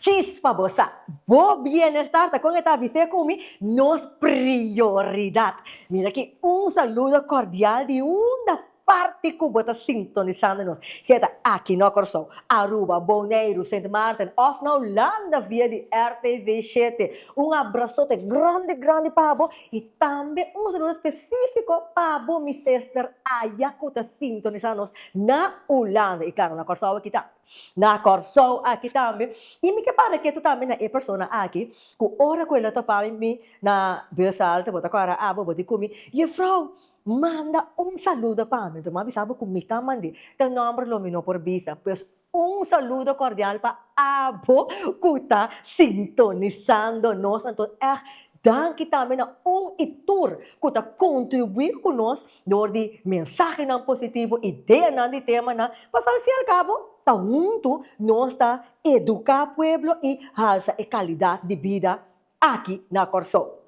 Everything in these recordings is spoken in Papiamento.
Chispa bo sa, bo bienestar ta kon e ta bis'é ku mi nos prioridat. Mira aki un saludo kordial di unda parti ku bo ta sintonisando nos, si e ta aki no Kòrsou, Aruba, Boneiru, Sint Maarten òf na Hulanda via di RTV Shete. Un abrasote grandi grandi pa bo i tambe un saludo spesifiko pa bo mi sester aya ku ta sintonisa nos na Hulanda i klaro na Kòrsou aki ta. Na Kòrsou aki tambe. I mi ke para ketu tambe na e persona aki ku ora ku el a topa mi mi na Beursalta, bo ta kòrda abo, bo di ku mi, Yefrou, manda un saludo pa mi. Lo mi a bisa bo ku mi ta mandi ta nòmber lo mi no por bisa. Pues un saludo kordial pa abo ku ta sintonisando nos. Anto èg danki tambe na un i tur ku ta kontribuí ku nos. dor di mensahenan positivo, ideanan di temanan, pasobra al fin y al cabo ta huntu nos ta educa pueblo y halsa e calidad di bida aki na Corsou.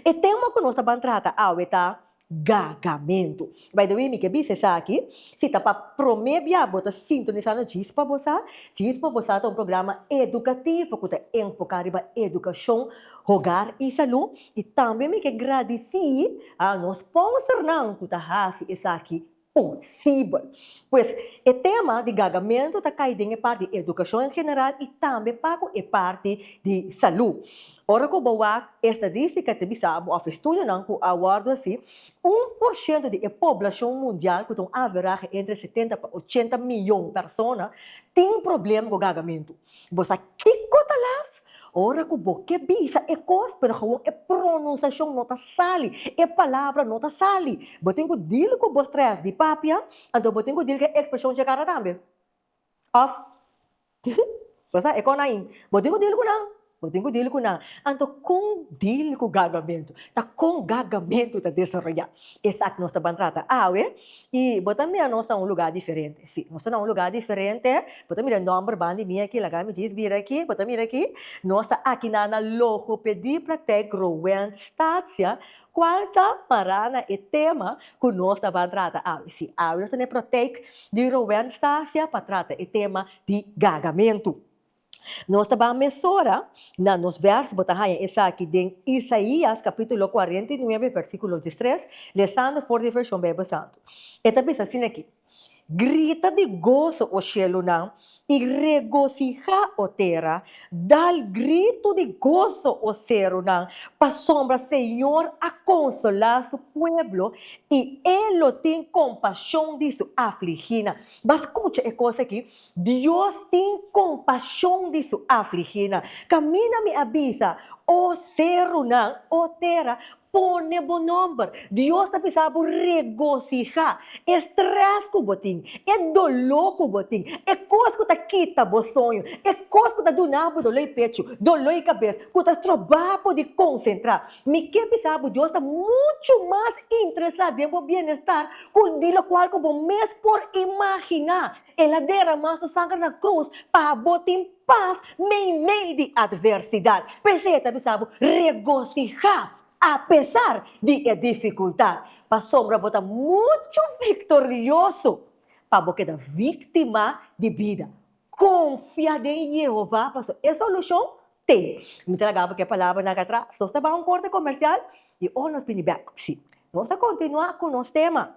E tema cu nos ta ban trata awe ta Gagamentu. By the way, mi ke bisa esaki, si ta pa prome bia bo ta sintonisa no Chispa Bo Sa, Chispa Bo Sa ta un programa educativo cu ta enfoca riba educacion, hogar y salud, I tambe mi ke gradisí a nos sponsornan ku ta hasi esaki posibel. Pues, e tema di gagamentu ta kai den e parti di edukashon en general i tambe paku e parti di salú. Ora ku bo wak e estadístika ta bisa bo òf e studionan ku a wòrdu hasi, un por shento di e poblashon mundial ku ta un averahe entre setenta pa ochenta miyon persona tin problem ku gagamentu. Bo sa kiko ta laf? Ora ku bo ke bisa e kos, pero gewoon e pronunsashon no ta sali, e palabra no ta sali. Bo tin ku dil ku bo strès di papia, anto bo tin ku dil ku e ekspreshon chekara tambe. Òf, bo sa e kon ai? Bo tin ku dil ku nan, bo tin ku dil ku nan. Anto kon dil ku gagamentu? Ta kon gagamentu ta desaroyá? Esaki nos ta ban trata awe i bo ta mira nos na un lugá diferente. Sí, nos ta na un lugá diferente. Bo ta mira e nòmber ban di mi akí, laga mi djis bira akí, bo ta mira akí. Nos ta aki na na Logopedie Praktijk Growend Statia, kual ta mará na e tema ku nos ta ban trata awe. Sí, awe nos ta na e Praktijk di Growend Statia pa trata e tema di gagamentu. Nos ta ban mesora, na nos vèrs bo ta haña esaki den Isaías capítulo cuarenta i nuebe versículo dies tres, lesando for di e version Bijbel Santo. E ta bisa asina aki, Grita di goso, o shielunan, i regocijá, o tera, dal gritu di goso, o serunan, pasobra Señor a consolá su pueblo i e lo tin compashon di su afligínan. Bo a scucha e cos aki? Dios tin compashon di su afliginan. Caminda mi a bisa, O cerunan, O tera, pone bo nomber. Dios ta bisa bo regosija. E stress cu bo tin, e dolo cu bo tin, e cos cu ta kita bo soño, e cos cu ta duna bo dolo i pechu, dolo i cabes, cu ta stroba bo di concentra. Mi ke bisa bo Dios ta mucho mas interesa den bo bienestar cu di locual cu bo mes por imagina. El a deramá su sanger na krus pa bo tin pas meimei di atversidat. P'esei e ta bisa bo, Regosihá apesar di e difikultat, pasobra bo ta muchu viktorioso pa bo keda víktima di bida. Konfia den Yehova pasobra e solushon t'ei. Mi ta laga bo ku e palabranan aki atras. Nos ta bai un korte komersial i ora nos bini bèk, nos ta kontinuá ku nos tema,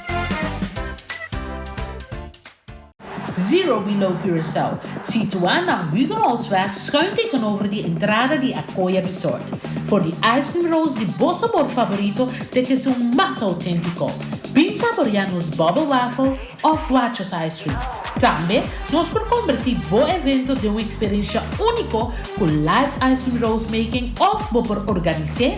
Zero below Curaçao, situá na Huguenotsweg schuin tegenover di entrada di Acoya Resort. For di ice cream rolls di bo sabor favorito te ke su mas autentico. Bin saborea nos bubble waffle of Huachos ice cream. Tambe nos por converti bo evento den un experiencia unico cu live ice cream rolls making of bo por organise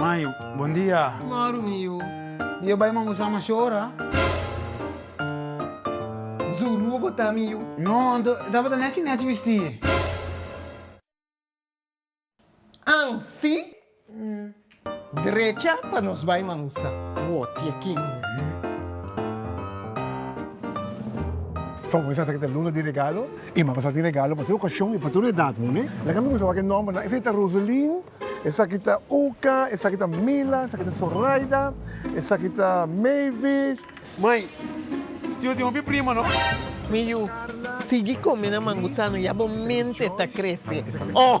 Mayo, Bon dia. Maru mio, Mi yo bai man usa masho ora. Zuru bo ta mio? No, anto e tabata nechi nechi bisti. An si? Drecha pa nos bai man usa. Wo, tia King. Fabor sa ta kita luna di regalo. E mama sa tin regalo pa tur okashon i pa tur edat muhé. Laga mi kusa wak e nòmbernan. Esaki ta Roselin, esaki ta Uka, esaki ta Mila, esaki ta Soraida, esaki ta Mavis. Mai, tio tin hopi prima no? Mi yu, sigui kome na mangusano, ya bo mente ta krese. Ohh!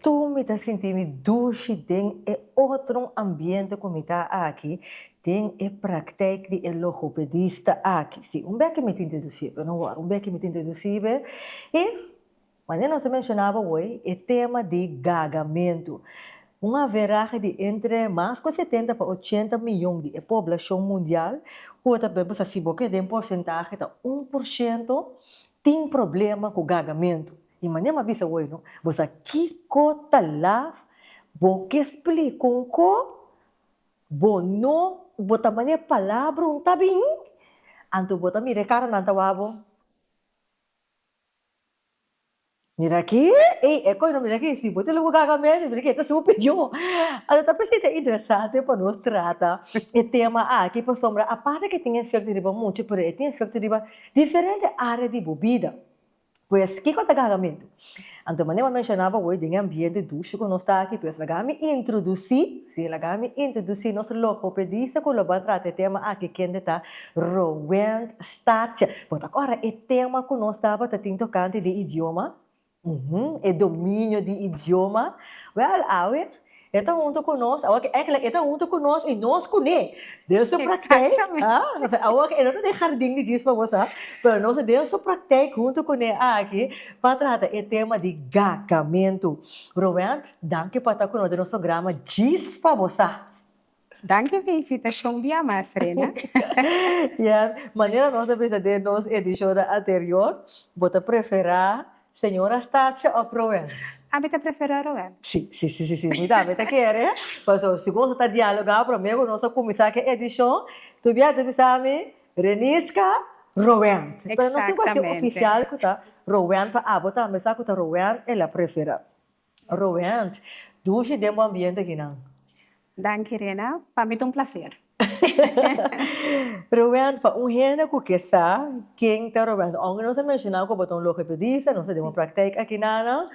Tur mi ta sinti mi dushi den e otro ambiente cu mi ta aki den e praktijk di e logopedista aki. Si, un beki mi tin te dusi be, no wor, un beki mi tin te dusi be. Y, manera nos a mencionaba hoy, e tema di gagamentu, un averahe di entre mas cu setenta pa ochenta miyon di e poblacion mundial, cu ta bebe, sa si bo ke den porcentahe ta un por ciento, tin problema cu gagamentu. I manera m'a bisa hoy no, bo sa kico ta laf bo ke spli con co bo no bo ta mane palabra un ta bin, anto bo ta mira e cara nan ta wak bo. Mira aki, ey e coy no mira aki si bo tin loco gaga mes mira aki e ta su opinio. Anto ta p'esei ta interesante pa nos trata e tema aki pasobra aparte ke tin efecto riba mucha pero e tin efecto riba diferente area di bo bida. Pues, kiko ta gagamentu? Anto manera mi a menshoná pa bo, den e ambiente dushi ku nos ta aki, pues laga mi introdusí, sí, laga mi introdusí nos logopedista ku lo ban trata e tema aki, kende ta Roend Staartje. Bo ta kòrda e tema ku nos tabata tin tokante di idioma? Uhum, e dominio di idioma. Wèl, awe, E ta huntu ku nos, awa ke èkla e ta huntu ku nos i nos ku ne den su praktijk, ha. Pasobra awa ke e no ta den hardin di djis pa bo sa, pero nos ta den su praktijk huntu ku ne aki pa trata e tema di gagamentu. Roent, danki pa ta ku nos den nos programa Djis pa bo sa. Danki di invitashon bia mas, Rena. Ya, manera nos ta bisa den nos edishonnan anterior, bo ta preferá señora Stacia òf Roel? Ami ta preferá Roel. Sí, sí, sí, sí, sí, mi tambe ta kere. Pasobra si bo ta dialogá promé ku nos ta kuminsá ke edishon, tur bia ta bisa mi, Renisca, Roel. Pero nos tin kual si ofisial ku ta Roel pa abo tambe sa ku ta Roel e la preferá. Roeant, dushi den bo ambiente akinan. Danki Rena, pa mi ta un placer. Roeant, pa un hende ku ke sa ken ta Roeant, aunke nos a menshoná ku bo ta un logopedista, nos ta den bo praktijk akinan,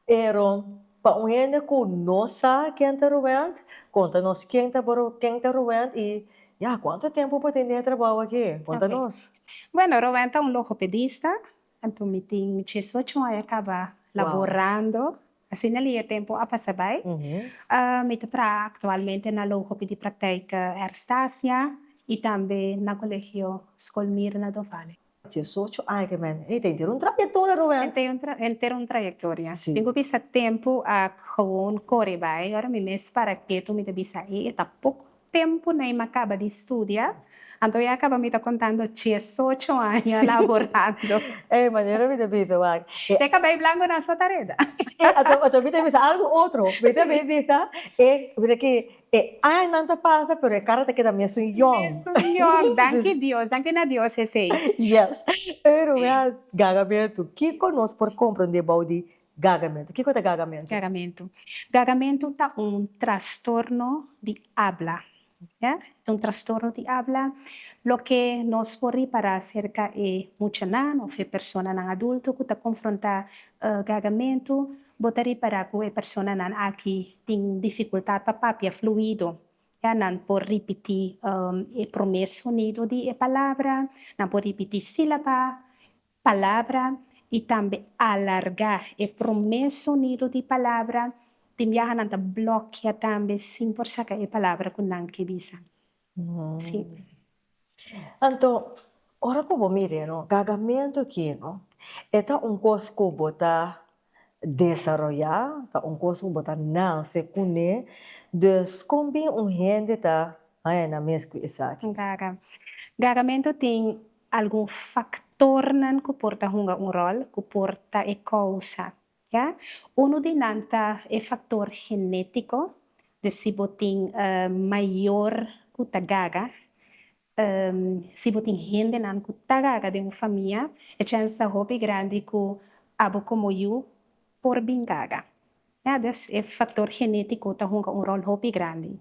pero pa un hende ku no sa ken ta Roeant, konta nos ken ta bo, ken ta Roeant i ya kuantu tempu bo tin den e trabou aki? Konta nos. Bueno, Roeant ta un logopedista, Anto mi tin diesocho aña kaba laborando, asina lia tempo a pasa bai. Mi ta traha aktualmente na lo hopi di praktijk Erstasia i tambe na Kolegio Skol Mirna do Vale. Diesocho aña ke men. Ey, ta henter un trayektoria, Rubén. Ey, ta henter un trayektoria. Mi ku bisa tempo a gewoon kore bai. Ora mi mes para ketu mi ta bisa, ey, e ta poko. Tempu na i m'a kaba di studia, anto ya kaba mi ta kontando diesocho aña laborando. Ey, manera mi ta bisa wak. Te kaba e blangonan so ta reda. Ey, anto, anto mi ta bisa algu otro. Mi ta mi bisa, e, mira ki, e añanan ta pasa, pero e kara ta keda mesun yòn. Mesun yòn. Danki Dios, danki na Dios esei. Yes. Ey, Rubén, ganga mi a tu, kiko nos por komprondé bou di Gagamentu. Kiko ta gagamentu? Gagamentu. Gagamentu ta un trastorno di abla. Ya. Ta un trastorno di abla. Loke nos por ripará aserka e muchanan òf e personanan adulto ku ta konfrontá gagamentu, bo ta ripará ku e personanan aki tin difikultat pa papia fluido. Ya. Nan por ripití e promé sonido di e palabra, nan por ripití sílaba, palabra i tambe alargá e promé sonido di palabra. Tin biaha nan ta blòkia tambe sin por saka e palabra ku nan ke bisa. Siempre. Anto, ora ku bo mira e gagamentu akí, e ta un kos ku bo ta Desaroyá ta un kos ku bo ta nase kuné, dus kon bin un hende ta haña mes ku esaki? Gara. Garamentu tin algun faktornan ku por ta hunga un ròl, ku por ta e kousa, ya. Unu di nan ta e faktor genétiko, dus si bo tin mayor ku ta gara, Si bo tin hendenan ku ta gaga den un famia, e chèns ta hopi grandi ku abo komo yu por bin gaga. Ya dus e faktor genétiko ta hunga un ròl hopi grandi.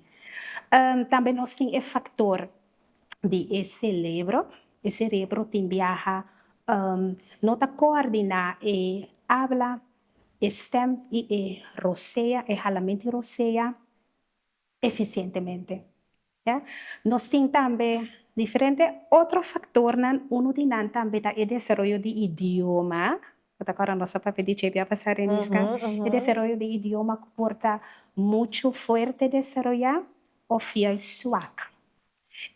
Tambe nos tin e faktor di e selebro. E serebro tin biaha, no ta koordiná e abla, e stèm i e rosea, e halamento i rosea, efisientemente. Ya. Nos tin tambe diferente otro faktornan, unu di nan tambe ta e desaroyo di idioma, bo ta kòrda nos a papia di JB a basa Remis kan? E desaroyo di idioma ku por ta muchu fuerte desaroyá òf fiel suak.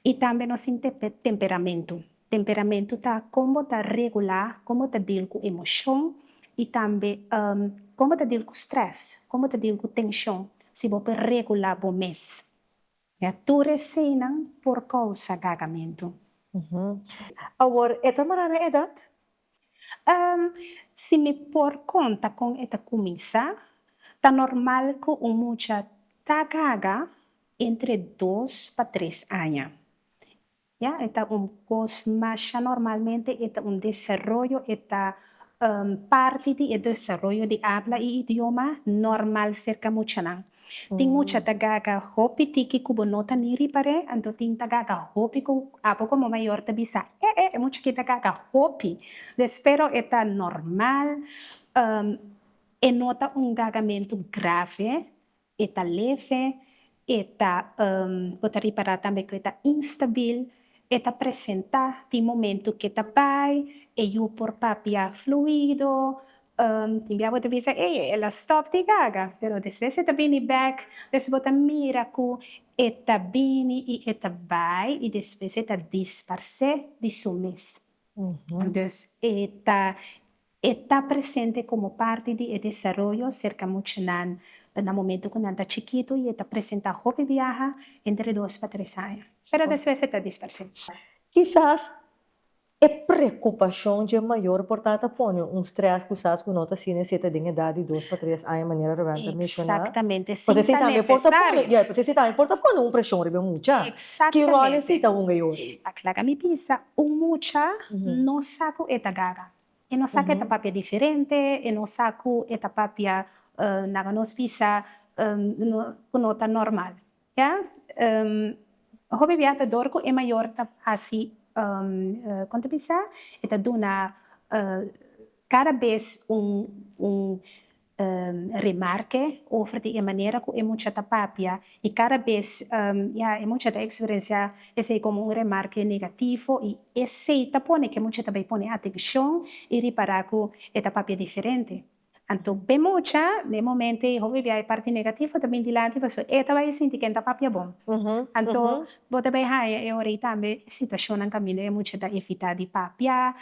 I tambe nos tin te temperamentu, temperamentu ta kon bo ta regulá, kon bo ta dil ku emoshon i tambe kon bo ta dil ku strès, kon bo ta dil ku tenshon, si bo por regulá bo mes. Ya tur resenan por kousa gagamentu. Awor e ta mará na edat? Si mi por konta kon e ta kuminsá, ta normal ku un mucha ta gaga entre dos pa tres aña. Ya, e ta un kos masha normalmente e ta un desaroyo, e ta parti di e desaroyo di abla e idioma normal serka muchanan. Tin mucha ta gaga hopi tiki ku bo no ta ni ripar'é, anto tin ta gaga hopi ku abo komo mayor ta bisa, eh eh e mucha aki ta gaga hopi des, pero e ta normal, e no ta un gagamentu grave E ta leve, e ta bo ta ripará tambe ku e ta instabil, e ta presentá tin momentu ke ta bai, e yu por papia fluido, tin bia bo ta bisa ey el a stòp di gaga, pero despues e ta bini bèk, despues bo ta mira ku e ta bini i e ta bai i despues e ta disparsé di su mes. Dus e ta E ta presente komo parti di e desaroyo serka mucha nan ta na momento ku nan ta chikitu i e ta presentá hopi biaha entre dos pa tres aña, pero despues e ta disparse. Kisas e prekupashon dje mayor por ta ta pone un strès kusas ku no ta asina si e ta den edat di dos pa tres aña manera Roberta a menshoná. Pasobra esei tambe por ta pone, ya, pasobra esei tambe por ta pone un preshon riba e mucha. Ki ròl esei ta hunga e ora? Akla ka mi bisa un mucha no sa ku e ta gaga. E no sa ku e ta papia diferente, e no sa ku e ta papia na ku nos bisa ku no ta normal. Ya hopi bia ta dor ku e mayor ta hasi kon ta bisa e ta duna kada bes un remarke over di e manera ku e mucha ta papia i kada bes ya e mucha ta eksperensiá esei komo un remarke negativo i esei ta pone ku e mucha ta bai pone atenshon i ripará ku e ta papia diferente. Anto b'e mucha na e momento ei hopi bia e parti negativo ta bin dilanti pasobra e ta bai sinti ke ta papia bon. Anto bo ta bai haña e ora ei tambe e situashonnan kaminda e mucha ta evitá di papia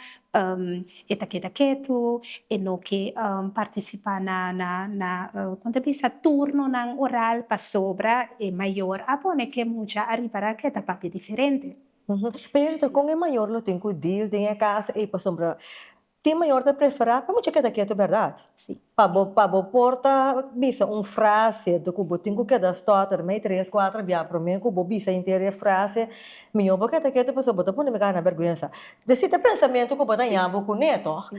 E ta keda ketu, e no ke partisipá na na kon ta bisa turnonan oral pasobra e mayor a pone ke mucha ariba ra ke ta papia diferente. Pero kon e mayor lo tin ku dil den e kas ei? Pasobra tin mayor ta preferá pa mucha keda ketu, bèrdat? Sí. Pa bo pa bo por ta bisa un frase ku bo tin ku keda stòter mei tres kuater bia promé ku bo bisa inter e frase mihó bo keda ketu pasobra bo ta pone mi kara na bèrgwensa te si ta pensamentu ku bo ta ña bo kuné tòg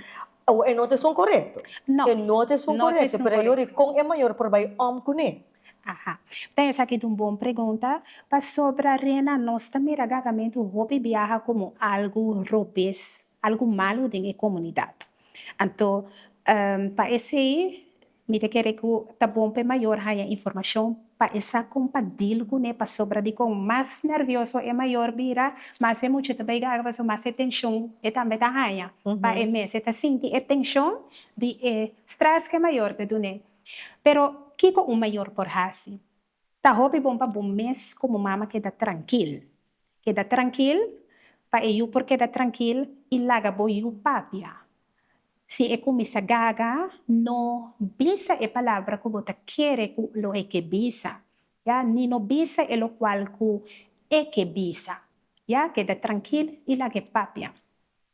o e no ta esun korekto e no ta esun korekto pero yo ri kon e mayor por bai òm kuné. Aha ta esaki ta un bon pregunta pasobra Rena nos ta mira gagamentu hopi biaha komo algu robes algu malu den e komunidat Anto pa esei mi ta kere ku ta bon pa e mayor haña informashon pa e sa kon pa dil ku ne pasobra di kon mas nervioso e mayor bira mas e muchu ta bai gaga pasobra mas e tenshon e tambe ta haña pa e mes e ta sinti e tenshon di e strès ku e mayor ta dun'e. Pero kiko un mayor por hasi Ta hopi bon pa bo mes komo mama keda trankil. Keda trankil pa e yu por keda trankil i laga bo yu papia. Si e kuminsá gaga, no bisa e palabra ku bo ta kere ku lo e ke bisa, ya, ni no bisa e lokual ku e ke bisa. Ya, keda trankil i laga e papia.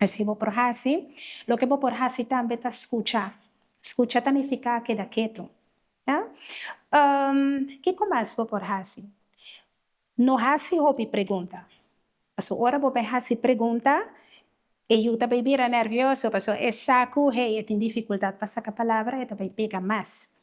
Esei bo por hasi. Loke bo por hasi tambe ta skucha. Skucha ta nifiká keda ketu. A Um, kiko mas bo por hasi? No hasi hopi pregunta. Pasobra ora bo bai hasi pregunta, e yu ta bai bira nervioso, pasobra e sa ku hei e tin difikuldat pa saka palabra, e ta bai pega mas.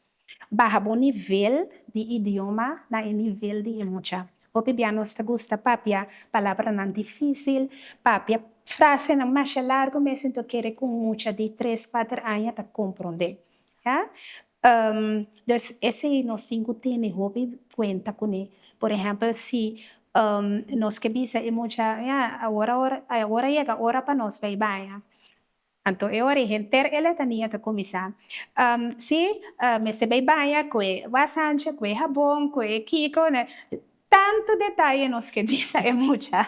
Baha bo nivel di idioma na e nivel di e mucha. Hopi bia nos ta gusta papia palabranan difícil, papia frasenan masha largu mes enton kere ku un mucha di tres, kuater aña ta komprondé. A Dus esei nos tin ku tene hopi kuenta kuné. Por ehèmpel si nos ke bisa e mucha, Awor awor, awor a yega ora pa nos bai baña. Anto e ora e henter e letania ta kuminsá. Si, mester bai baña ku e wasancha, ku e habon, ku e kiko, ne. Tantu detaye nos ke bisa e mucha.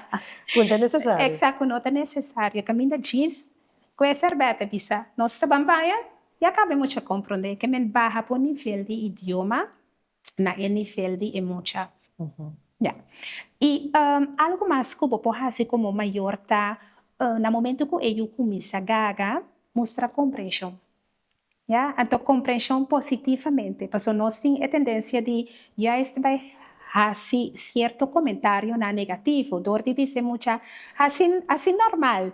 Ku no ta nesesario. Eksakt, ku no ta nesesario. Kaminda djis ku e sèrbèt a bisa, Nos ta ban baña? Ya kaba e mucha komprondé ke men baha por nivel di idioma na e nivel di e mucha. Ya. I algu mas ku bo por hasi komo mayor ta, na momento ku e yu kuminsa gaga, mustra komprenshon. Ya. Anto komprenshon positivamente, paso nos tin e tendensia di juist bai hasi sierto komentarionan negativo dor di bis'e mucha, Hasi, hasi normal.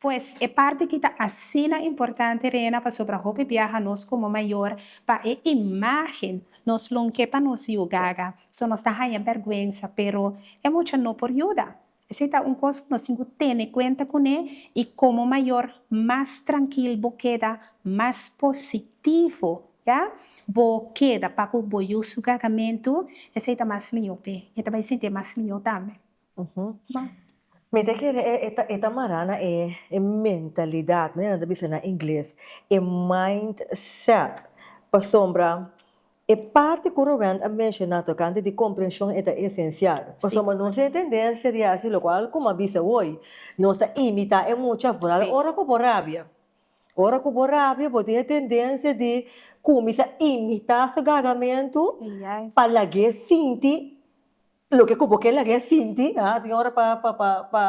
Pues, e parti ki ta asina importante rena pasobra hopi biaha nos komo mayor pa e imágen nos lo n'ke pa nos yugaga. So nos ta haña bèrgwensa, pero e mucha no por yuda. Esei ta un kos ku nos tin ku tene kuenta kuné i komo mayor mas trankil bo keda, mas positivo ya bo keda pa ku bo yusu gagamentu, esei ta mas mihó p'e. E ta bai sinti e mas mihó tambe. Mi ta kere e ta mará na e mentalidad, manera nan ta bisa na ingles, e mindset, pasobra e parti cu Rowend a menciona tocante di comprension e ta esencial, pasobra nos tin e tendencia di haci locual como a bisa hoy, nos ta imita e mucha vooral ora cu bo rabia, ora cu bo rabia bo tin e tendencia di cuminsa imita su gagamentu pa lagu'e sinti Loke ku bo ke laga e sinti, a tin ora pa pa pa pa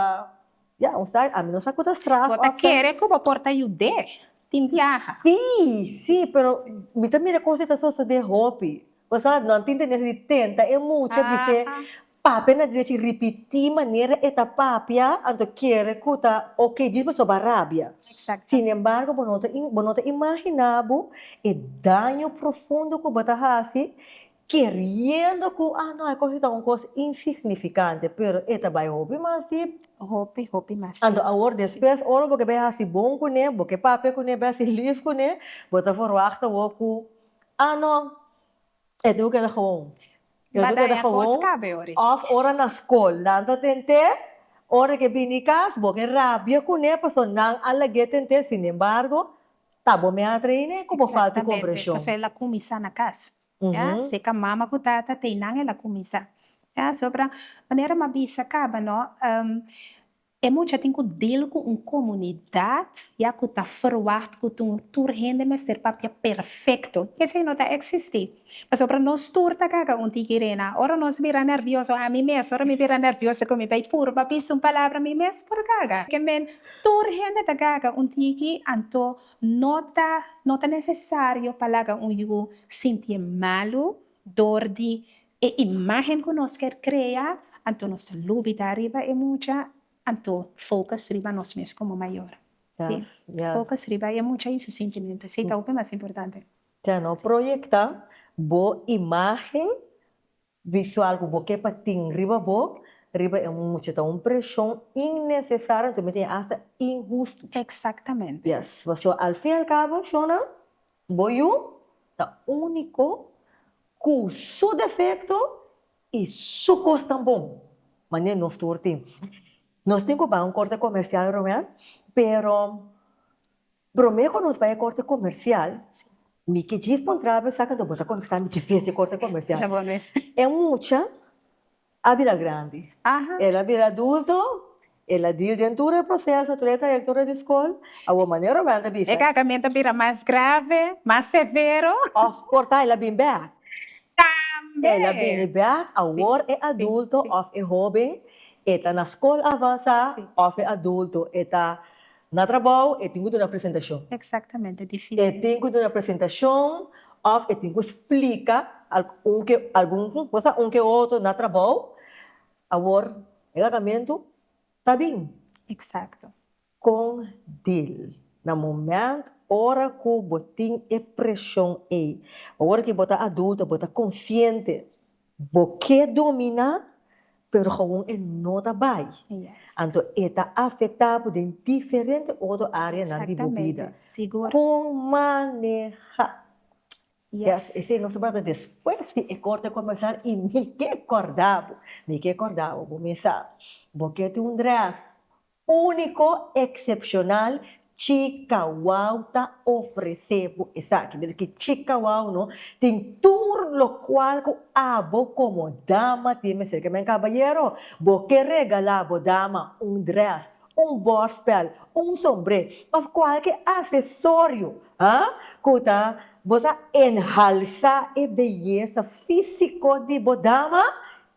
ya un sa ami no sa ku ta straf Bo ta kere ku bo por ta yud'é tin biaha? Sí, sí, pero mi ta mira kos e ta sosodé hopi. Pasá nan tin tendensia di tenta e mucha di se papia na drechi i ripití manera e ta papia anto kere ku ta ok di bo soba rabia. Sin embargo bo no ta bo no ta imaginá bo e daño profundo ku bo ta hasi Keriendo ku ah no e kos ta un kos insignifikante, pero e ta bai hopi mas dip. Hopi, hopi mas dip. Anto awor despues ora bo ke bai hasi bon kuné, bo ke papia kuné, bai hasi lief kuné, bo ta forwachta wou ku ah no e debe keda gewoon, e debe keda gewoon, of ora na skol nan ta tent'é, ora ke bini kas bo ke rabia kuné pasobra nan a lag'é tent'é, sinembargo Ta bo mi a traina e ku bo falta e komprenshon. Exactamente, pasobra el a kuminsá na kas, ya, si ka mama ku tata ta einan el a kuminsá, ya, pasobra manera mi a bisa kaba nò, e mucha tin ku dil ku un komunidat, ya, ku ta ferwagt ku tur hende mester papia perfekto, esei no ta eksistí. Pasobra nos tur ta kaga un tiki rena. Ora nos bira nervioso, ami mes, ora mi bira nervioso ku mi bai puru pa bisa un palabra, mi mes por kaga. Ke men, tur hende ta kaga un tiki, anto no ta no ta nesesario pa laga un yu sinti malu dor di e imágen ku nos kier krea. Anto nos ta lubida riba e mucha, anto fokus riba nos mes komo mayor. Si, fokus riba e mucha i su sintimentu. Si ta hopi mas importante. Te no proyecta bo imagen visual cu bo ke pa tin riba bo riba e mucha. Ta un presion innecesario anto mi diña hasta inhusto. Exactamente. Yes, pasobra al fin y al cabo, Shona, bo yu ta unico cu su defecto y su cos tan bon, manera nos tur tin. Nos tin cu bay un corte comercial, Romean, pero Prome cu nos bai e corte comercial, mi ke djif pon traba e saca do bo ta contesta mi djif bes e corte comercial. E mucha a bira grandi, el a bira adulto, el a deal den tur e proceso, tur e trayectoria di scol, awo manera o wende bisa. E cagamento a bira mas grave, mas severo. Of por ta el a bin bek. Tambe. El a bini bek awor e adulto of e hoben e ta na scol avansa of e adulto e ta Na trabou e tin ku duna presentashon. Eksaktamente, difisil. E tin ku duna presentashon òf e tin ku splika algun ke algun kosa un ke otro na trabou. Awor e gagamentu ta bin. Eksakto. Kon dil na moment ora ku bo tin e preshon ei. Awor ke bo ta adulto bo ta konsiente Bo ke dominá, pero gewoon e no ta bai. Anto e ta afektá bo den diferente otro áreanan di bo bida. Kon manehá? Yes, esei nos a bata despues di e korte komensá i mi ke kòrda bo, mi ke kòrda bo, bo mester sa bo ke tin un drès Úniko, eksepshonal, Chikawau ta ofresé bo esaki. Mira ki Chikawau no tin tur lokual ku abo komo dama tin mester ke men kabayero. Bo ke regalá bo dama un drès, un bòrspèl, un sombré òf kualke asesorio, ha? ku ta bo sa enhalsá e beyesa físiko di bo dama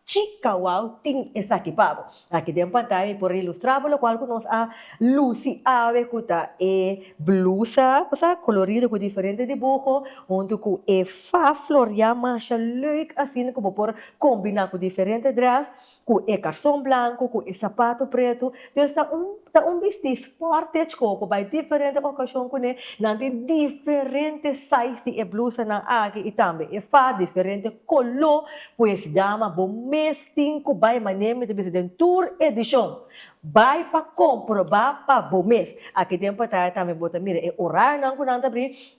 Chi kawao tin esaki pa bo? Aki den pantaya mi por a ilustra bo lokual ku nos a lusi awe ku ta e blusa sa kolorido ku diferente dibuho huntu ku e fa floriá masha leuk asina ku bo por kombiná ku diferente drès ku e karson blanku ku e sapatu pretu. Pues ta un ta un bisti sport echco cu bay diferente ocacion cu ne nan tin diferente size di e blusanan aki y tambe e fa diferente color pues dama bo mes tin cu bay mane mi ta bisa den tur edicion bay pa comproba pa bo mes aki den pantaya tambe bo ta mira e orarionan cu nan ta bri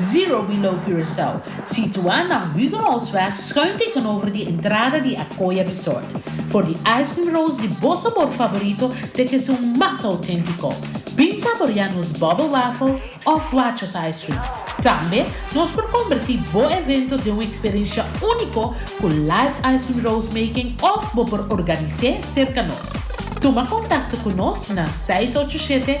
Zero Below Curaçao, situá na Huguenotsweg schuin tegenover di entrada di Acoya Resort. For di ice cream rolls di bo sabor favorito te ke su mas auténtico. Bin saboreá nos bubble waffle òf Wachos ice cream. Tambe nos por convertí bo evento den un experiencia único cu live ice cream rolls making òf bo por organisé cerca nos. Tuma contacto cu nos na seis ocho shete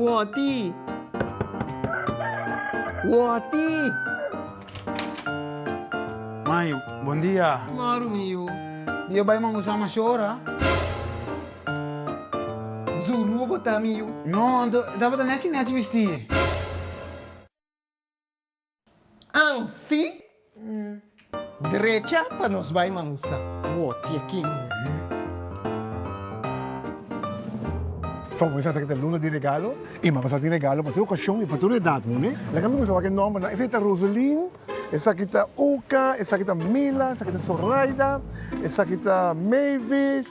Woti! Woti! Mayo, bon dia! Maru mio. Di yo bai man usa masho ora. Zuru bo ta mio. No, anto tabata nechi nechi bisti. Ansi drecha pa nos bai mangusa wotje kin. From we sa ta kita luna di regalo i maba sa tin regalo pa tur okashon i pa tur edat moe. Laga mi kuminsa wak e nòmbernan. Esaki ta Roselin, esaki ta Uka, esaki ta Mila, esaki ta Soraida, esaki ta Mavis,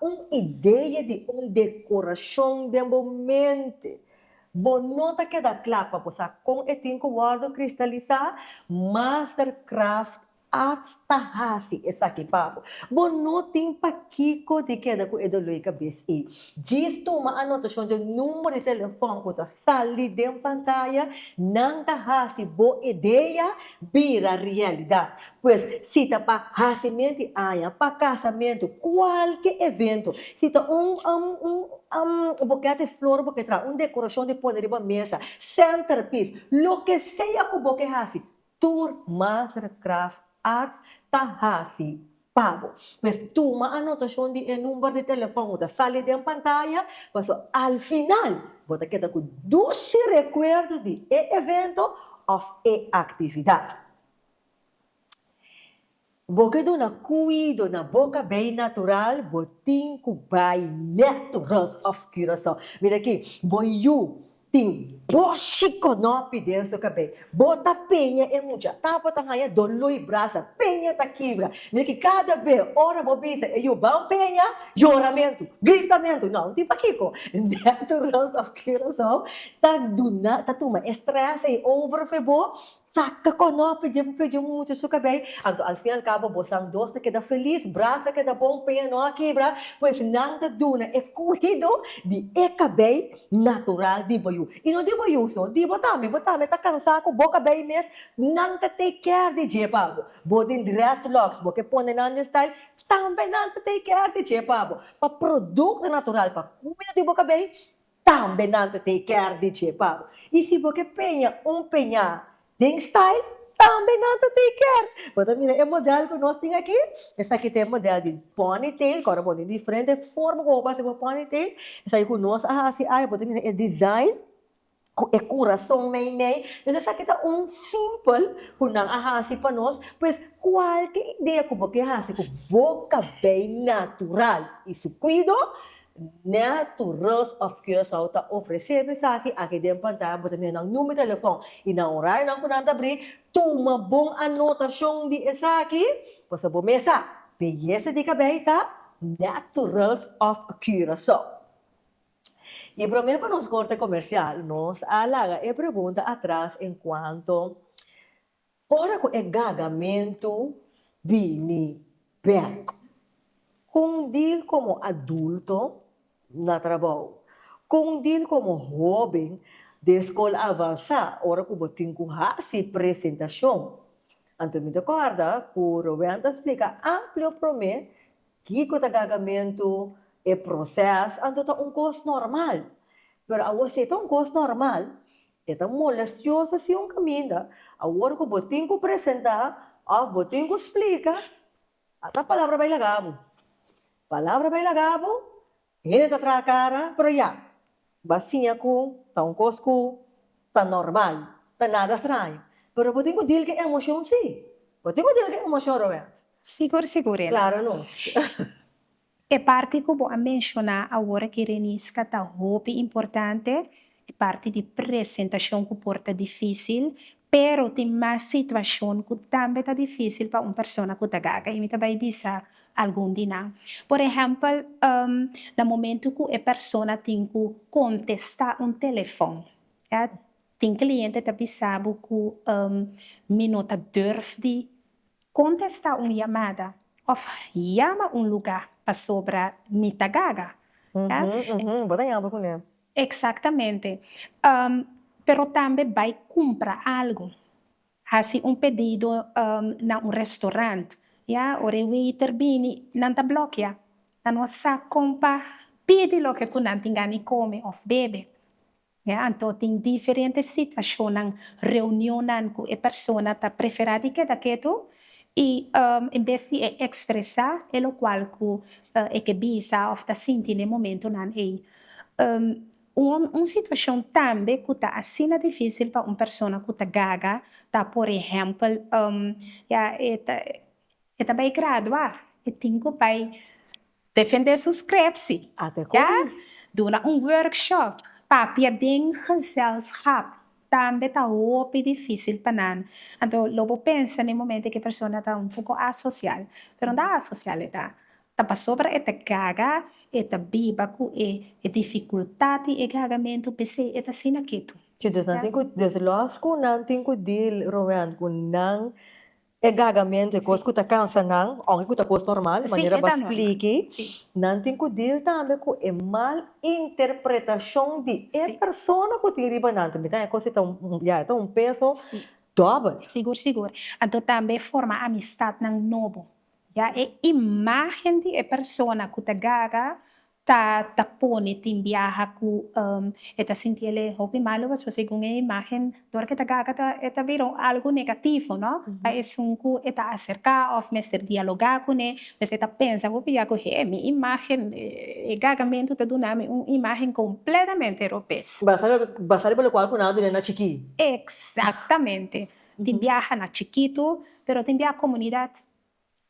Un idea di un decorashon den bo mente. Bo no ta keda cla pa bo sa con e tin cu wordo cristalisa? Mastercraft Arts ta haci esaki pa bo. Bo no tin pa kico di keda cu e doloi cabez ey. Djis tuma anotacion di number di telefon cu ta. Sali den pantaya, nan ta hasi bo idea bira realidad. Pues, si ta pa hasimen di aña, pa casamentu, cualke evento, si ta un um un um boket di flor bo ke traha, un decoracion di pone riba mesa, centerpiece, loke sea cu bo ke hasi, Tur Mastercraft Arts ta hasi pa bo. Pues tuma anotacion di e number di telefon cu ta sali den pantaya, paso al final bo ta keda cu dushi recuerdo di e evento of e actividad. Bo ke duna cuido na bo cabei natural bo tin cu bai net Rus of Curaçao. Mira aki, bo yu tin boshi conopi den su cabei. Bo ta peña e mucha, ta bo ta haya dolor y brasa, peña ta kibra. Mira aki, cada be ora bo bisa e yu ban peña, yoramentu, gritamentu, no, no tin pakico. Net Rus of Curaçao ta duna, ta tuma e stress ey over for bo Saca conopla dje p'e dje mucha su cabey, anto al fin al cabo bosan dos ta keda feliz, braza ta keda bon, peña no a kibra, pues nan ta duna e cuido di e cabey natural di boyu, y no di boyu so, di bo tambe, bo tambe ta cansa cu bo cabey mes, nan ta take care di dje pa bo, bo den dreadlocks bo ke pone nan den style, tambe nan ta take care di dje pa bo, pa producto natural pa cuido di bo cabey, Tambe nan ta tin e kier di dje pa bo. I si bo ke peña un peñá den style, tambe nan ta tin e kier. Bo ta mira e modèl ku nos tin aki? Esaki ta e modèl di ponytail, ku ora bo tin diferente forma ku bo por hasi bo ponytail. Esaki ku nos a hasi ai, bo ta mira e design ku e kurason meimei. Entonces esaki ta un simpel ku nan a hasi pa nos. Pues, kualke idea ku bo ke hasi ku bo kabei natural i su kuido, Nè Tourist of Curaçao ta ofresé bo esaki aki den pantaya, bo ta mira nan number telefòn i nan orarionan ku nan ta abrí, tuma bon anotashon di esaki, pasobra bo mes sa, beyesa di kabei ta Nè Tourist of Curaçao. I promé pa nos korte komersial, nos a laga e pregunta atras en kuanto Ora ku e gagamentu bini bèk. Kon dil komo adulto na trabou. Kon dil komo hóben den skol avansá ora ku bo tin ku hasi presentashon. Anto mi ta kòrda ku Rowen ta splika amplio promé kiko ta gagamentu, e prosès, anto ta un kos normal. Pero awor si e ta un kos normal, E ta molestioso si un caminda, awor cu bo tin cu presenta of bo tin cu splica, a ta palabra bay laga bo. Palabra bay laga bo, hende ta traha cara, pero ya, ba siña cu ta un cos cu ta normal, ta nada straño. Pero bo tin cu deal cu e emocion, si. Bo tin cu deal cu e emocion, Roberto. Sigur, sigur, Ena. Claro nos. E parti ku bo a menshoná awor ki Renisca ta hopi importante, e parti di presentashon ku por ta difísil, pero tin mas situashon ku tambe ta difísil pa un persona ku ta gaga i mi ta bai bisa algun di nan. Por ehèmpel, na momentu ku e persona tin ku kontestá un telefòn, ya tin kliente ta bisa bo ku mi no ta durf di Kontestá un yamada òf yama un lugá pasobra mi ta gaga. Bo ta yampla kuné. Eksaktamente. Pero tambe bai kumpra algu. Hasi un pedido na un restorant. Ora e weiter bini, nan ta blòkiá. Nan no a sa kon pa pidi loke ku nan tin gana di kome òf bebe. Ya, anto tin diferente situashonnan, reunionnan ku e persona ta preferá di keda ketu i en bes di e ekspresá e lokual ku e ke bisa òf ta sinti n'e momentunan ei. Un situashon tambe ku ta asina difísil pa un persona ku ta gaga ta por ehèmpel, ya, e ta bai graduá, e tin ku bai Defendé suskripsi, ya duna un workshop papia den gezelschap tambe ta hopi difísil pa nan, anto lo bo pensa na e momento ku e persona ta un poko asosial, pero no ta asosial e ta, ta pasobra e ta gaga, e ta biba ku e difikultat i e gagamentu p'esei e ta asina ketu. Chi, desloas ku nan tin ku deal, Roeant, ku nan E gagamentu, e kos ku ta kansa nan, aunke ku ta kos normal, manera bo a spliki, nan tin ku dil tambe ku e mal interpretashon di e persona ku tin riba nan. Tambe ta e kos ei ta un, ya, e ta un peso dòbel. Sigur, sigur. Anto tambe forma amistat nan nobo, ya. E imágen di e persona ku ta gaga ta ta pone tin biaha ku e ta sinti el e hopi malu pasobra segun e imágen dor ku e ta gaka ta e ta bira un algu negativo no pa esun ku e ta aserká òf mester dialogá kuné pues e ta pensa hopi ya ku he mi imágen e gakamentu ta duna mi un imágen kompletamente ropes. Basá loke basá riba lokual ku nan a duna na chikí. Eksaktamente tin biaha na chikitu pero tin biaha komunidat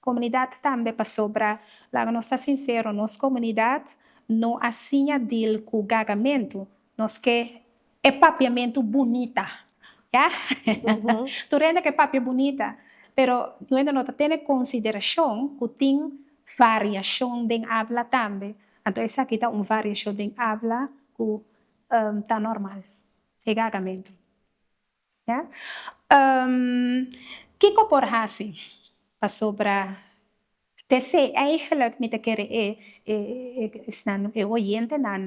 Comunidad tambe pasobra laga nos ta sincero nos comunidad no a siña deal cu gagamentu nos ke e papiamentu bunita ya tur hende ke papia bunita pero tur hende no ta tene consideracion cu tin variacion den habla tambe anto esaki ta un variacion den habla cu ta normal e gagamentu. Kiko por hasi pasobra tese eigenlijk mi ta kere e esnan e oyentenan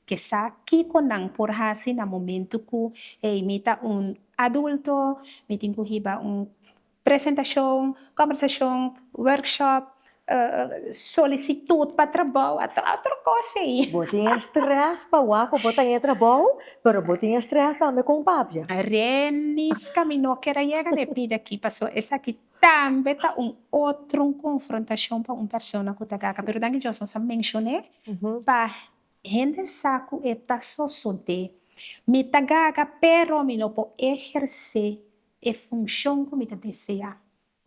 ke sa kiko nan por hasi na momento ku hey mi ta un adulto, mi tin ku hiba un Presentashon, kòmbersashon, wòrkshòp, solisitut pa trabou, otro kos ei. Bo tin e strès pa wak ku bo ta e trabou, pero bo tin e strès tambe kon papia. Reiniska mi no ker a yega na e pida aki paso esaki tambe ta un otro konfrontashon pa un persona ku ta gaka, pero danki Dios nos a menshoné pa hende sa ku e ta sosodé. Mi ta gaka pero mi no por ehersé e funcion cu mi ta desea.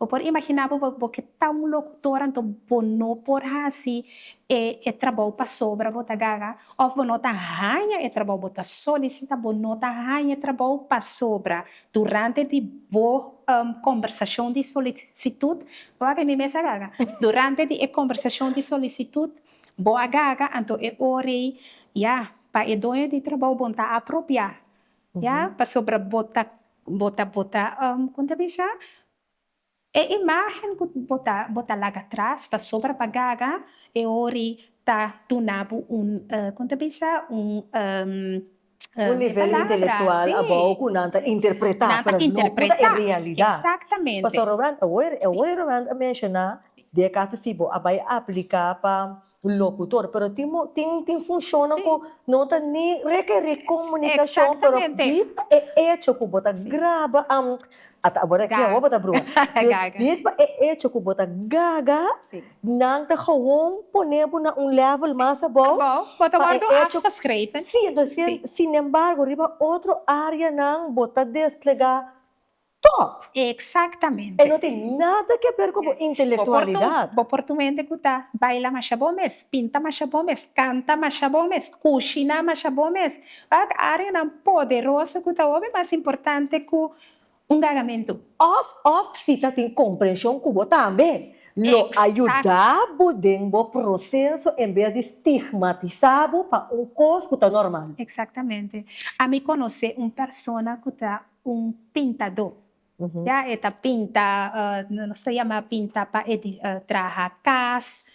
Bo por imagina bo, bo ke ta un locutor anto bo no por haci e e trabou pasobra bo ta gaga of bo no ta haña e trabou, bo ta solicita bo no ta haña e trabou pasobra durante di bo conversacion di solicitut bo a bini mes a gaga, durante di e conversacion di solicitut bo a gaga anto e ora ei ya pa e doño di trabou bon ta apropia Ya, pasobra bo ta, bo ta, bo ta, kon ta bisa? E imágen ku bo ta, bo ta laga tras pasobra pa gaga e ori ta duna bo un, kon ta bisa? Un, e palabra, sí, nan ta interpretá, exactamente. Pastor Robrant, e oi, e oi Robrant a menshoná di e kaso si bo a bai apliká pa. Un locutor, pero tin tin tin funcionnan cu no ta ni requeri comunicacion, pero di pa e hecho cu bo ta graba, am ata awor aki awor bo ta bruha, gaga, di pa e hecho cu bo ta gaga, nan ta gewoon pone bo na un level mas abao, abao, bo ta wordo achta schreven, si, entonces sin embargo riba otro areanan bo ta desplega Top! Exactamente. E no tin nada ke ber ku bo intelectualidad. Bo por tuma hende ku ta baila masha bon mes, pinta masha bon mes, kanta masha bon mes, kushina masha bon mes. Wak areanan poderoso ku ta hopi mas importante ku un gagamentu. Of of si ta tin comprension ku bo tambe lo ayuda bo den bo proceso en bes di stigmatisa bo pa un kos ku ta normal. Exactamente. Ami conoce un persona ku ta. Un pintadó, ya, e ta pinta, nos ta yama pinta pa traha cas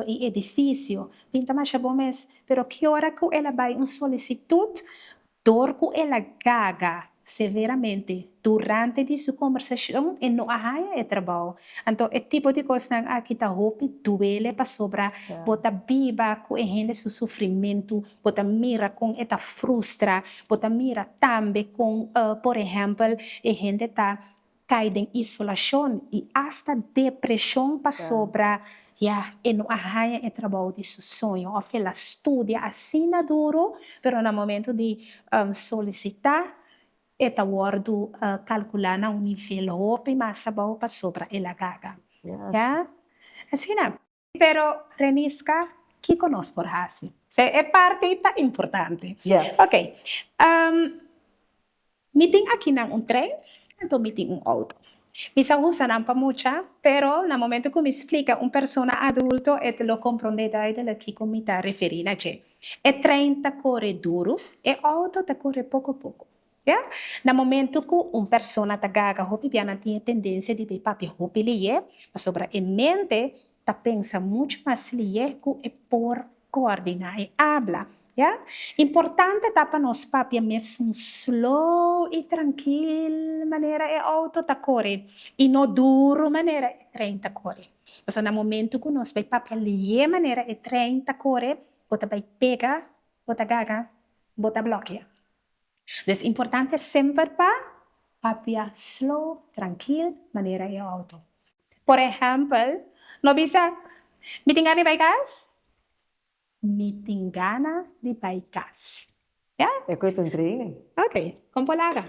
y edificio, pinta masha bon mes, pero ki ora cu el a bay un solicitud dor cu el a gaga severamente durante di su conversacion e no a haya e trabao, anto e tipo di cosnan aki ta hopi duele pasobra bo ta biba cu e hende su sufrimentu Bo ta mira kon e ta frustra. Bo ta mira tambe kon, por ehèmpel, e hende ta kai den isolashon i asta depreshon pasobra, ya, e no a haña e trabou di su soño òf el a studia asina duru, pero na momentu di solisitá e ta wòrdu kalkulá na un nivel hopi mas abou pasobra el a gata. Ya, asina. Pero Renisca, kico nos por haci? Sey e parti ta importante. Yes. Ok, ehm, mi tin akinan un tren, enton mi tin un auto. Mi sa usa nan pa mucha, pero na momento cu mi splica un persona adulto e lo comprende duidelijk kico mi ta referi na dje. E tren ta core duru, e auto ta core poco poco. Ya na momentu ku un persona ta gaga hopi bia nan tin e tendensia di bai papia hopi leyé pasobra e mente ta pensa muchu mas leyé ku e por koordiná e abla. Ya importante ta pa nos papia mes un slow i trankil manera e outo ta kore i no duru manera e trein ta kore. Pasobra na momentu ku nos bai papia leyé manera e trein ta kore bo ta bai pega, bo ta gaga, bo ta blokia. Des importante semper pa papia slow, trankil, manera e auto. Por ehèmpel, no bisa, Mi tin gana di bai kas. Mi tin gana di bai kas. Ya? E cu e ta un training. Ok, con por laga.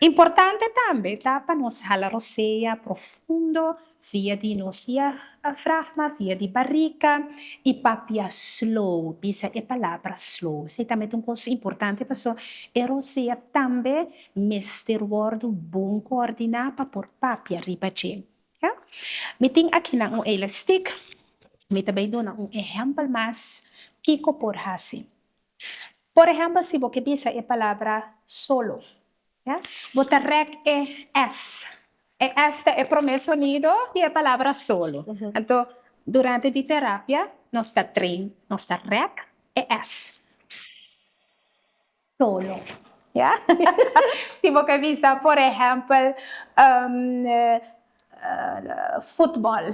Importante tambe ta pa nos hala rosea profundo. Via di no diafragma, via di barica, y papia slow, bisa e palabra slow. Esey tambe ta un cos importante pasobra e rosea tambe mester wordo bon coordina pa por papia riba dje. Mi tin akinan un elastic, mi ta bay duna un ehempel mas kico por haci. Por ehempel si bo ke bisa e palabra solo. Bo ta rèk e s. E s ta e promé sonido di e palabra solo. Anto, durante di terapia nos ta train, nos ta rèk e s. Sss. Solo. Ya? Si bo ta bisa, por ehèmpel, futbòl,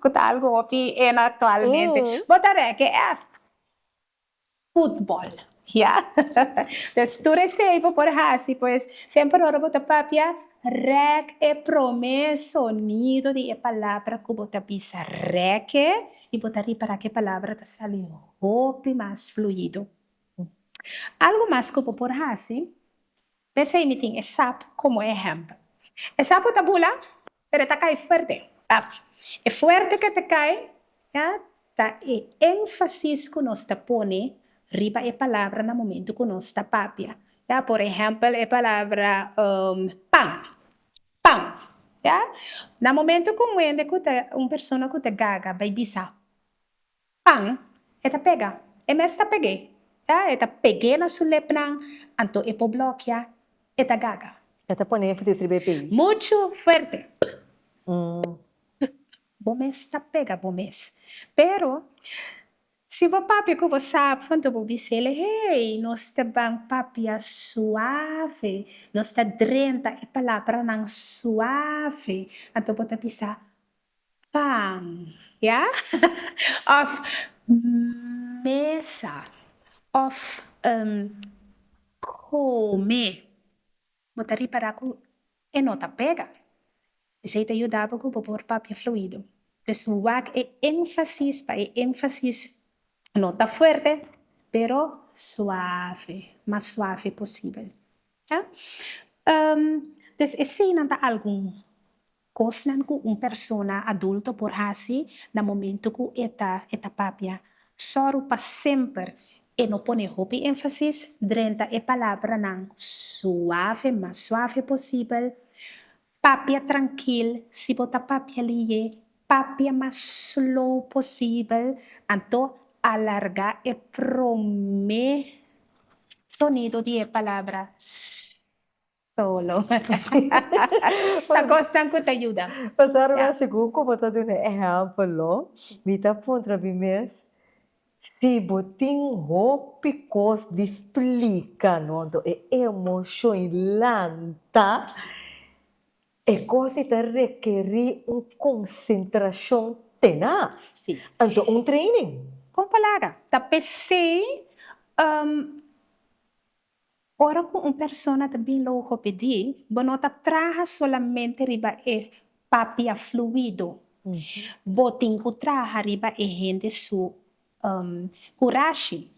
ku ta algu hopi hena aktualmente, bo ta rèk e s. Futbol, ya. Pues tur esei bo por hasi, pues semper ora bo ta papia, rèk e promé sonido di e palabra ku bo ta bisa. Rèk'e i bo ta ripará ku e palabra ta sali hopi mas fluido. Algu mas ku bo por hasi, p'esei mi tin e sapo komo ehèmpel. E sapo ta bula. Pero e ta cay fuerte. Tape. E fuerte cu e ta cay, ya, ta e enfasis cu nos ta pone riba e palabra na momento cu nos ta papia. Ya, por ehempel, e palabra, um, pan. Pan. Ya. Na momento cu un hende cu ta, un persona cu ta gaga bay bisa, Pan, e ta pega. E mes ta peg'é. Ta, e ta peg'é na su lepnan, anto e por blokia, e ta gaga. E ta pon'é fasi estrib'é p'ei. Muchu fuerte, P-p-p, p-p-p, bo mes ta pega bo mes. Pero, si bo papia ku bo sa pa anto bo bis'el, hey, nos ta ban papia suave, nos ta drenta e palabranan suave, anto bo ta bisa, Pan, ya? Of mesa, of um come. Bo ta ripará ku e no ta pega. Esei ta yuda bo ku bo por papia fluido. Pues wak e énfasis pa e énfasis no ta fuerte, pero suave, mas suave posibel. Ya? Um, pues eseinan ta algun Cosnan cu un persona adulto por haci na momento cu e ta e ta papia. Soru pa semper e no pone hopi enfasis drenta e palabranan suave, mas suave posibel. Papia trankil, si bo ta papia liye, papia mas slow posibel, anto alarga e prome. Sonido di e palabra solo ta cosnan cu ta yuda. Pasa ruwel segun cu bo ta duna e ehempel, mi ta puntra mi mes si bo tin hopi cos di splica, no? Enton e emocion lanta. E gosi ta rekerí un konsentrashon tenas. Sí. Anto un training. Kon pa laga? Ta p'esei ora ku un persona ta bin logopedí bo no ta traha solamente riba e papia fluido, bo tin ku traha riba e hende su kurashi,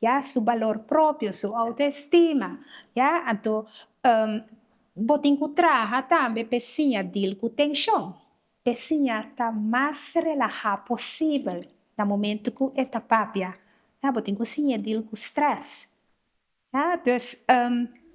ya, su balor propio, su autoestima, ya, anto bo tin ku traha tambe p'e siña dil ku tenshon, p'e siña ta mas relahá posibel na momentu ku e ta papia, ya, bo tin ku siñ'é dil ku strès, Ya, dus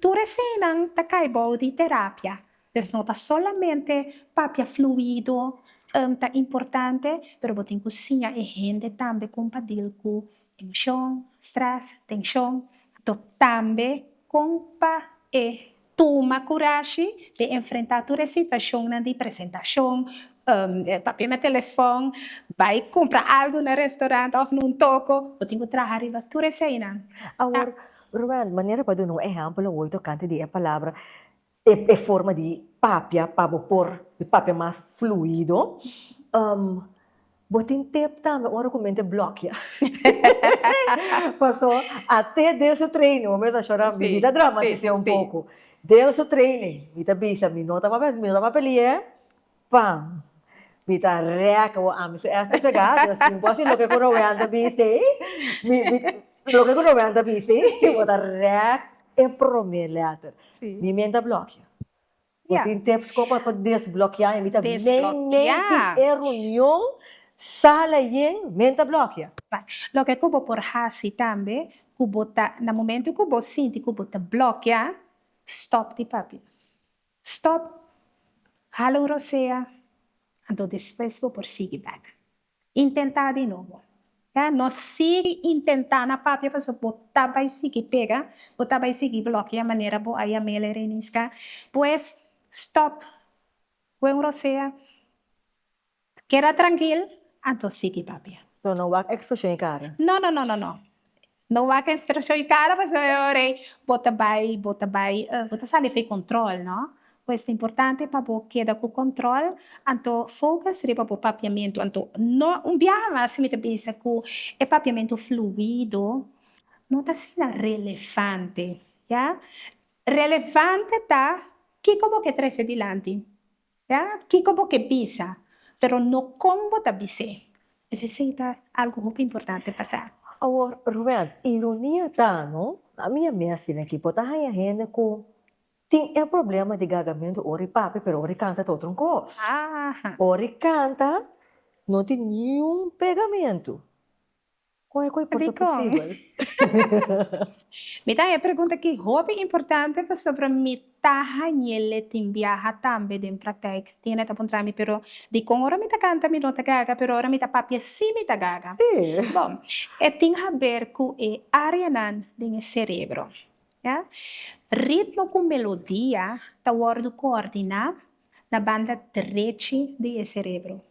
tur eseinan ta kai bou di terapia, dus no ta solamente papia fluido ta importante, pero bo tin ku siña e hende tambe kon pa deal ku emoshon, stress, tenshon, to tambe kon pa e Tuma kurashi pe enfrentá tur e situashonnan di presentashon, papia na telefòn, bai kumpra algu na restorant òf na un toko. Bo tin ku traha riba tur eseinan. Awor, Ruben, manera pa duna un ehèmpel awor tokante di e palabra, e e forma di papia pa bo por papia mas fluido. Bo tin tep tambe ora cu men ta blokia. Paso ate den su training, bo mester shora, mi ta dramatis'e un poco, den su training mi ta bisa mi no ta papia, mi no ta papeli'e, pam, mi ta rek bo ami su esta pega, dus tin bo si loke cu Roel ta bis'e, loke cu Roel ta bis'e, bo ta rek e prome letter, mi men ta blokia. Bo tin tips con por pa desblokiá en bida men men di e runion sala yen men ta blokia. Loke cu bo por haci tambe cu bo ta na momento cu bo sinti cu bo ta blokia stop di papi stop hala un rosea anto despues bo por sigui back Intentá di nobo. Ya no sigui intentá na papia pasobra bo ta bai sigui pega, bo ta bai sigui blokia manera bo a yam'el e reiniska. Pues stòp. Kue un rosea. Keda trankil, anto sigui papia. So no wak ekspulshon i kara? No, no, no, no, no. No wak inspirashon i kara pasobra e ora ei bo ta bai bo ta bai bo ta sali for e kòntròl no por esta importante pa bo keda ku kòntròl anto fokus riba bo papiamentu anto no un biaha mas mi ta bisa ku e papiamentu fluido no ta asina relevante ya relevante ta kiko bo ke trese dilanti Ya kiko bo ke bisa, pero no kon bo ta bis'é. Esei sí ta algu hopi importante pa sa. Awor, Rubén, ironia ta no, ami a mes tin aki, bo ta haña hende ku tin e problema di gagamentu ora e papia pero ora e kanta ta otro kos. Ora e kanta no tin niun pegamentu. Kon e koi por ta posibel? Mi ta haña e pregunta aki hopi importante pasobra mi ta hañel e tin biaha tambe den praktijk. Tin hende ta puntra mi, Pero dikon ora mi ta kanta mi no ta gaga, pero ora mi ta papia si mi ta gaga? Bo, e tin haber ku e áreanan den e serebro. Ritmo ku melodia ta wòrdu koordiná na banda drechi di e serebro.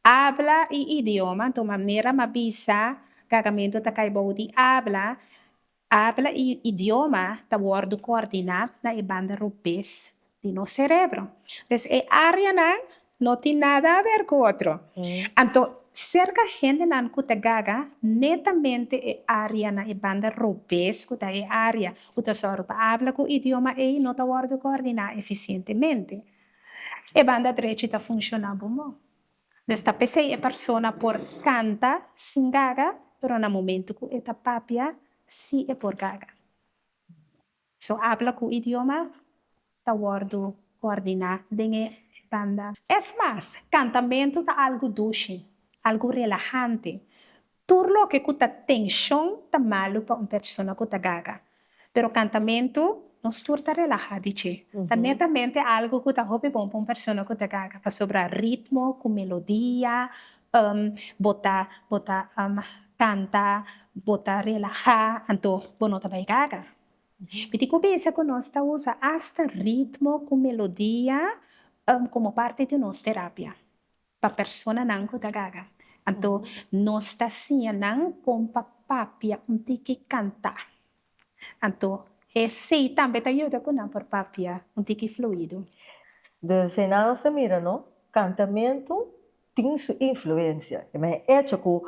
Abla i idioma tuma mera ma bisa gagamentu ta kai bou di abla, abla i idioma ta wòrdu koordiná na e banda rupes di nos serebro. Pues e áreanan no tin nada aber ku otro. Anto serka hendenan ku ta gaga netamente e área na e banda rupes ku ta e área Ku ta sòru pa abla ku idioma ei no ta wòrdu koordiná efisientemente. E banda drechi ta funshoná bo mó. Mes ta p'esei e persona por kanta sin gaga, pero na momentu ku e ta papia si e por gaga. So abla ku idioma ta wòrdu kòrdiná den e banda. Es mas, kantamentu ta algu dushi, algu relahante. Tur loke ku ta tenshon ta malu pa un persona ku ta gaga. Pero kantamentu, nos tur ta relahá di dje. Ta netamente algu ku ta hopi bon pa un persona ku ta gaga, pasobra ritmo ku melodia, bo ta bo ta kanta, bo ta relahá, anto bo no ta bai gaga. Mi tin ku bisa ku nos ta usa asta ritmo ku melodia komo parti di nos terapia pa personanan ku ta gaga. Anto nos ta siña nan kon pa papia un tiki kantá. Anto esei tambe ta yuda ku nan por papia un tiki fluido. Dus ei nan nos ta mira no, kantamentu tin su influensia, e men e echo ku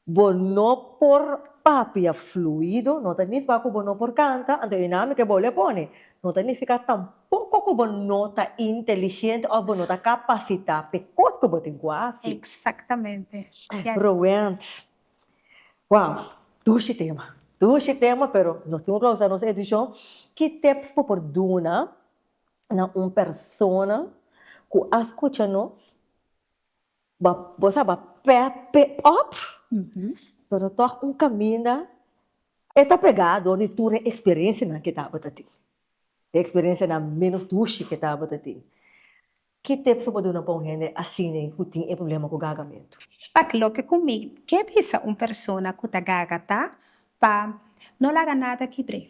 Bo no por papia fluido, no ta nifka ku bo no por kanta, anto e nami ke bo le pone no ta nifika tampoko ku bo no ta inteligente òf bo no ta kapasitá p'e kos ku bo tin ku hasi. Eksaktamente. Yes. Roent, wow, dushi tema, dushi tema, pero nos tin ku klausá nos edishon. Ki tips bo por duna na un persona ku a skucha nos? Bo sa ba pè pè òp pero tòg un kaminda e ta pegá dor di tur e eksperensianan ke tabata tin, e eksperensianan ménos dushi ke tabata tin, ki tep su por duna pa un hende asina ku tin e problema ku gagamentu? Pak loke ku mi ke bisa un persona ku ta gaga ta pa no laga nada kibr'é.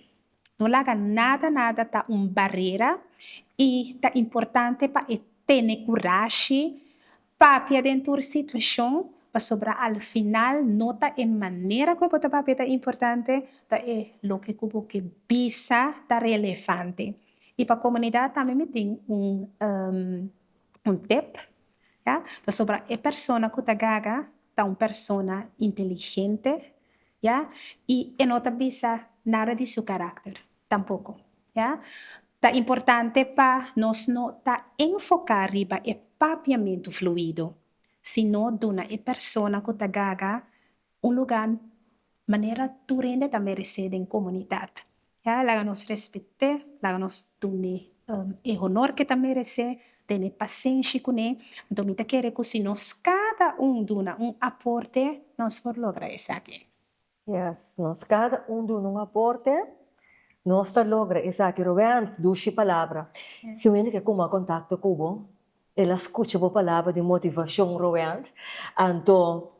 No laga nada nada ta un barera i ta importante pa e tene kurashi papia den tur situashon pasobra al final no ta e manera ku bo ta papia ta importante, ta e loke ku bo ke bisa ta relevante. I pa komunidat tambe mi tin un tep, pasobra e persona ku ta gaga ta un persona inteligente, ya, y e no ta bisa nada di su carácter tampoco, ya. Ta importante pa nos no ta enfoca riba e papiamentu fluido, sino duna e persona cu ta gaga un lugar manera tur hende ta merece den comunidad. Ya, laga nos respet'é, laga nos dun'é e honor k'e ta meresé, tene pasenshi kun'é. Anto mi ta kere ku si nos kada un duna un aporte, nos por logra esaki. Ya, si nos kada un duna un aporte, nos ta logra esaki. Rubén, dushi palabra. Si un hende ke kuma kontakto ku bo, el a skucha bo palabra di motivashon, Rubén, anto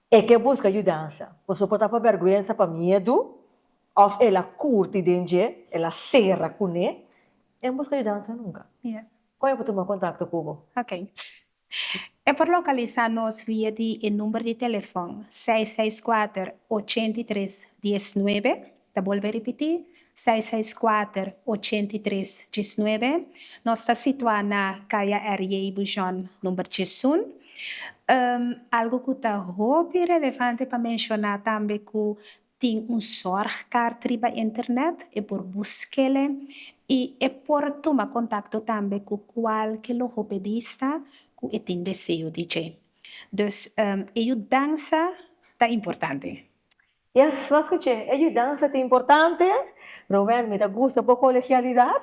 E ke buska yudansa. Boso por tapa bèrgwensa pa miedu, òf el a kurti den dje, el a sera kuné. E no buska yudansa nunka. Kon e por tuma kontakto ku bo? Ok. E por lokalisá nos via di e number di telefòn seis seis kuater ochenta i tres dies nuebe, Ta bolbe ripití, seis seis kuater, ochenta i tres, djes nuebe. Nos ta situá na Kaya RJ Bujon number djes un. Algu ku ta hopi relevante pa menshoná tambe ku tin un sòrgkaart riba internet, e por busk'el'e i e por tuma kontakto tambe ku kualke logopedista ku e tin deseo di dje. Dus e yudansa ta importante. Yes, mas cu che, e yudansa ta importante. Roel, mi ta gusta bo colegialidad.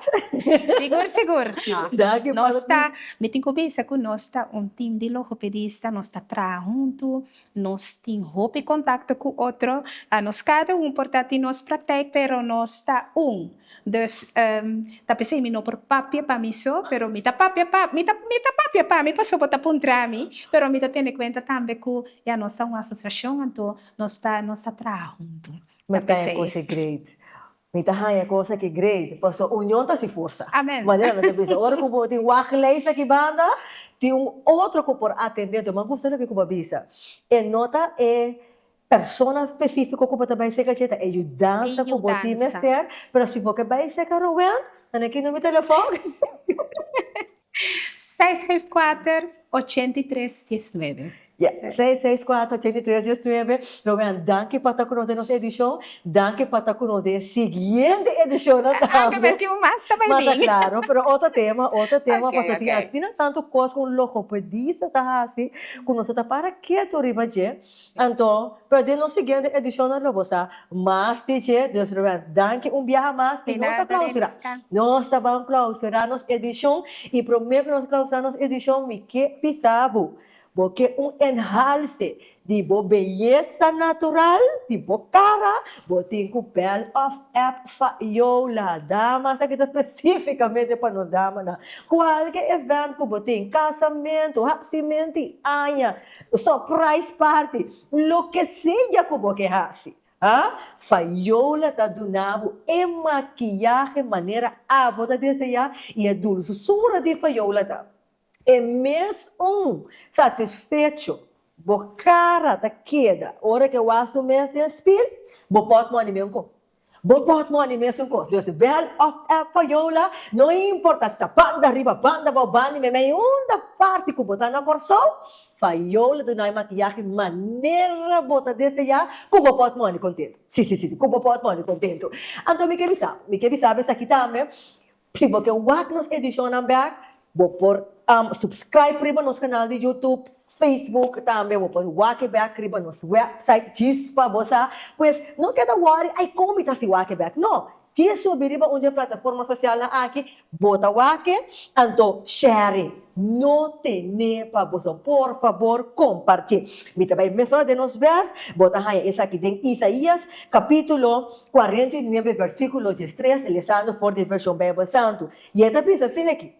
Sigur, sigur. No. Danki, Nos Padre ta, Pio. mi tin cu bisa cu nos ta un team di logopedista, nos ta traha huntu, nos tin hopi contacto cu otro. A nos cada un por ta tin nos praktijk, pero nos ta un. Dus, ehm, ta p'esei mi no por papia pa mi so, pero mi ta papia pa, mi ta, mi ta papia pa mi, paso bo ta puntra mi, pero mi ta tene cuenta tambe cu ya nos ta un asociacion anto, Nos ta nos ta traha huntu. Mi ta haña cos e great. Mi ta haña cos aki great. Paso union ta si forsa. Amen. Manera mi ta bisa ora cu bo tin wak lijst aki banda tin un otro cu por atende tu. Mi a gusta loke cu bo a bisa. E no ta e persona specifico cu bo ta bay seca dje ta e yudansa cu bo tin mester pero si bo ke bay seca Rowend nan a kino mi telefon. seis, seis, kuater, ochenta i tres, dies, nuebe. Ya, seis, seis, kuater, ochenta i tres, dies, nuebe. Romean, danki pa ta ku nos den nos edishon, danki pa ta ku nos den e siguiente edishonnan tambe. A'ha, mi mete un mas ta bai bin. Mata klaro, pero otro tema, otro tema. Ok, ok. Pasobra tin asina tantu kos ku un logopedista ta hasi, ku nos no ta para ketu riba dje. Anto, pa den nos siguiente edicionnan lo bo sa mas di dje, dus Ruben, danki un biaha mas y nos ta clausura, nos ta ban clausura nos edicion y prome cu nos clausura nos edicion mi ke bisa bo, bo ke un enhalce di bo beyesa natural, di bo cara, bo tin cu bel of app fa Yola Damas ta kita specificamente pa nos damanan, cualke event cu bo tin, casamento, hacimento y aña, Surprise party! Loke sea ku bo ke hasi, a Fayola ta duna bo e makiyahe manera abo ta deseá i e dulsura di Fayola ta e mes un satisfecho. Bo kara ta keda ora ke wak su mes den spil, bo pot mòni mihun ku Bo bòt mò ni mes un kos, Dios e bèl òf e foyola, no importa si ta banda riba, banda bou, bandi meimei, unda parti ku bo ta na Kòrsou, foyola dunai makiyahe manera bo ta deseá ku bo bòt mòni kontentu. Sí, sí, sí, sí, ku bo bòt mòni kontentu. Anto mi ke bisabo, mi ke bisabo esaki tambe, Si bo ke wak nos edishonnan bèk, bo por supskraip riba nos kanal di Youtube, Facebook, tambe bo por wak e bèk riba nos wèpsait djis pa bo sa. Pues, no keda wòri, ai kon mi ta si wak e bèk? No! Djis subi riba un di e plataforma sosialnan aki, bo ta wak e, anto shèri, no ten'é pa boso. Por fabor kompartí. Mi ta bai mesora den nos vèrs, bo ta haña esaki den Isaías, kapítulo. kuarenta i nuebe versíkulo di e stres, lesando for di e Vershon Beibel Santu, i e ta bisa asin aki,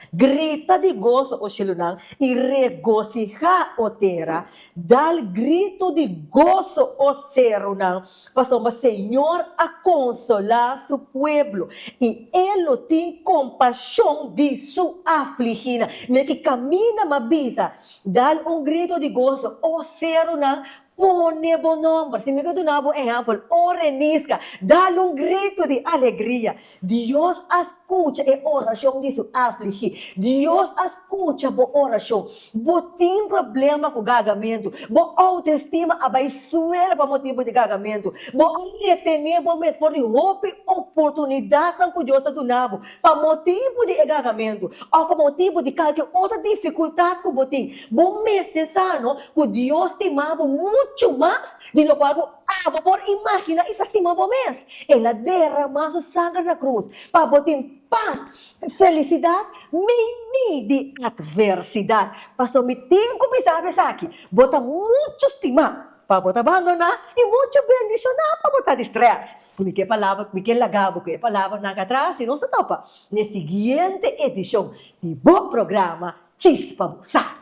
Grita di goso, O shelunan, i regosihá, O tera, dal gritu di goso, O serunan, pasobra Señor a konsolá Su pueblo, i E lo tin kompashon di Su afliginan. Mi'a ki kaminda m'a bisa, Dal un gritu di goso, O serunan, Pone bo nomber. Si mi ta duna bo ehèmpel, ora e niska, dal un gritu di alegria. Dios a skucha e orashon di su afligí. Dios a skucha bo orashon. Bo tin problema ku gagamentu. Bo outestima a bai suela pa motibu di gagamentu. Bo a retené bo mes for di hopi oportunidatnan ku Dios a duna bo. Pa motibu di e garamentu òf pa motibu di kalke otro difikultat ku bo tin, bo mester sa no ku Dios stima bo muchu mas di lokual bo aba por imaginá i ta stima bo mes. El a deramá su sanger na krus pa bo tin pas i felisidat meimei di atversidat. Pasobra mi tin ku mi sabi esaki, bo ta muchu stimá. Pa bo ta bandoná i muchu bendishoná pa bo ta di strès. Mi ke palabra, mi ke laga bo ku e palabranan ka trasi. Nos ta topa na e siguiente edishon di bo programa Chispa bo sa.